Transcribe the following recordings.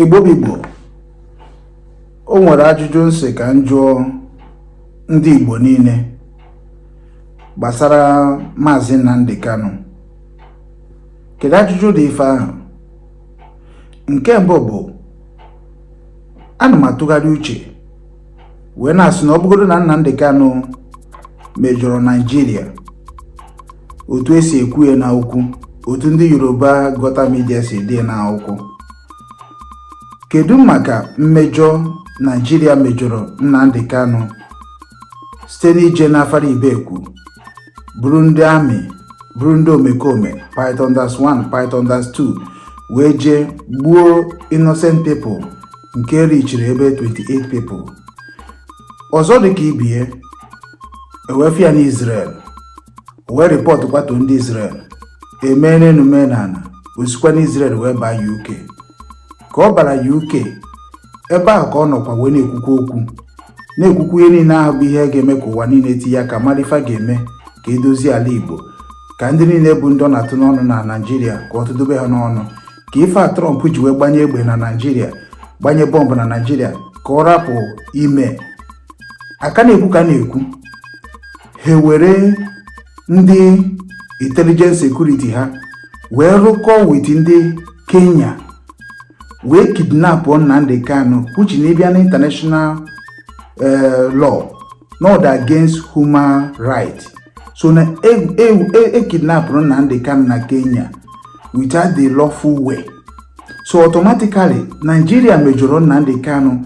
Igbo bụ Igbo o nwere ajụjụ m sị ka m jụọ ndị Igbo niile gbasara Maazị Nnamdi Kanu kedu ajụjụ dị ife ahụ nke mbụ bụ ana m atụgharị uche wee na-asị na ọ bụgodo na Nnamdi Kanu mejọrọ Naijiria otu e si ekwu ya n'akwụkwọ otu ndị Yoruba gutter media si dee n'akwụkwọ kedu maka mmejọ Naijiria mejọrọ Nnamdi Kanu site n'ije n'Afara Ibeku buru ndị amị buru ndị omekome Python Dance 1 Python Dance 2 wee jee gbuo innocent people nke richiri ebe 28 people ọzọ dịka ibe ya e wee fụ ya n'Israel wee rịpọtụkwa to ndị Israel e mee n'enu mee n'ana o sikwa n'Israel wee baa UK ka ọ bara UK ebe ahụ ka ọ nọkwa wee na-ekwukwa okwu na-ekwukwu ihe niile ahụ bụ ihe ga-eme ka ụwa niile tinye aka mara ife ga-eme ka e dozie ala Igbo ka ndị niile bụ ndị ọ na-atụ n'ọnụ na Naịjirịa ka ọ tụdobe ha n'ọnụ ka ife a Trump ji wee gbanye egbe na Naịjirịa gbanye bọmbụ na Naịjirịa ka ọ rapụ ime a ka na-ekwu ka na-ekwu ha were ndị intelligence security ha wee rụkọọ with ndị Kenya wee kidnapụ Nnamdi Kanu which na ị bịa na international eh, law na ọ dị against human right so na e kidnapụrụ e, e, e Nnamdi Kanu na Kenya without the lawful way so automatically Nigeria mejọrọ Nnamdi Kanu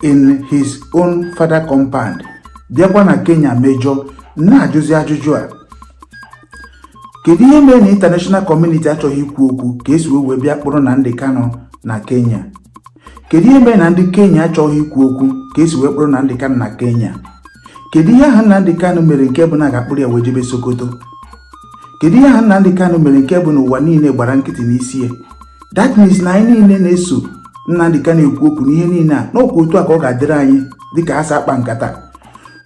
in his own father compound bịakwa na Kenya mejọọ na-ajụzi ajụjụ a kedu ihe mere na international community achọghị ikwu okwu ka esi wee wee bịa kpụrụ Nnamdi Kanu na Kenya kedu ihe mere na ndị Kenya achọghị ikwu okwu ka esi wee kpụrụ Nnamdi Kanu na Kenya kedu ihe ahụ Nnamdi Kanu mere nke bụ na a ga-akpụrụ ya wee jebe Sokoto kedu ihe ahụ Nnamdi Kanu mere nke bụ na ụwa niile gbara nkịtị n'isi ya that means na anyị niile na-eso Nnamdi Kanu ekwu okwu n'ihe niile a na ọ kwa otu a ka ọ ga-adịrị anyị dịka asa akpa nkata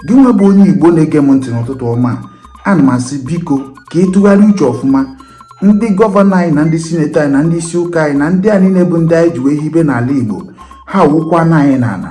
gị nwa bụ onye Igbo na-ege m ntị n'ụtụtụ ọma ana m asị biko ka ị tụgharịa uche ọfụma ndị gọvanọ anyị na ndị sineti anyị na ndị isi ụka anyị na ndị a niile bụ ndị anyị ji wee hibe n'ala Igbo ha wụkwana anyị n'ala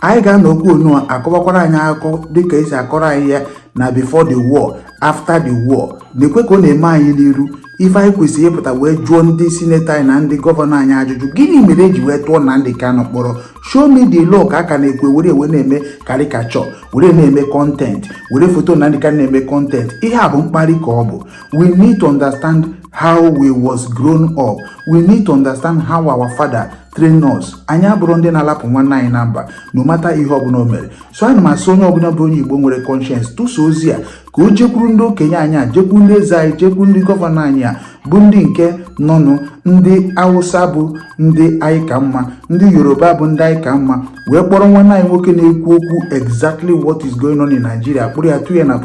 anyị ga-anọkwanụ a kọwakwara anyị akụkọ dịka e si akọrọ anyị ya na before the war after the war nekwe ka ọ na-eme anyị n'iru ife anyị kwesịrị ịpụta wee jụọ ndị sineti anyị na ndị gọvanọ anyị ajụjụ gịnị mere e ji wee tụọ Nnamdi Kanu mkpọrọ show me the law ka a ka na-ekwu e were wee na-eme caricature were na-eme content were foto Nnamdi Kanu na-eme content ihe a bụ mkparị ka ọ bụ we need to understand how we was grown up we need to understand how our father train us anyị abụrọ ndị na-alapụ nwanne anyị na mba no matter ihe ọbụla o mere so ana m asị onye ọbụla bụ onye igbo nwere conscience tụsa ozi a ka o jekwuru ndị okenye anyị a jekwuru ndị eze anyị jekwuru ndị gọvanọ anyị a bụ ndị nke nọnụ ndị awụsa bụ ndị anyị ka mma ndị yoruba bụ ndị anyị ka mma wee kpọrọ nwanne anyị nwoke na-ekwu okwu exactly what is going on in Nigeria kpụrụ ya tụ ya na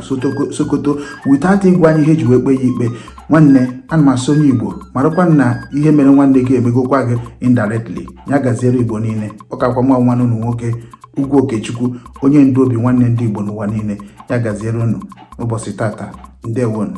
Sokoto without ịgwa anyị ihe e ji wee kpee ya ikpe nwanne ana m asị onye Igbo marakwa na ihe mere nwanne gị emegokwa gị indirectly ya gaziere Igbo niile ọ kakwa nwa nwanne unu nwoke Ugwu Okechukwu onye ndu obi nwanne ndị Igbo n'ụwa niile ya gaziere unu n'ụbọchị tata ndewonu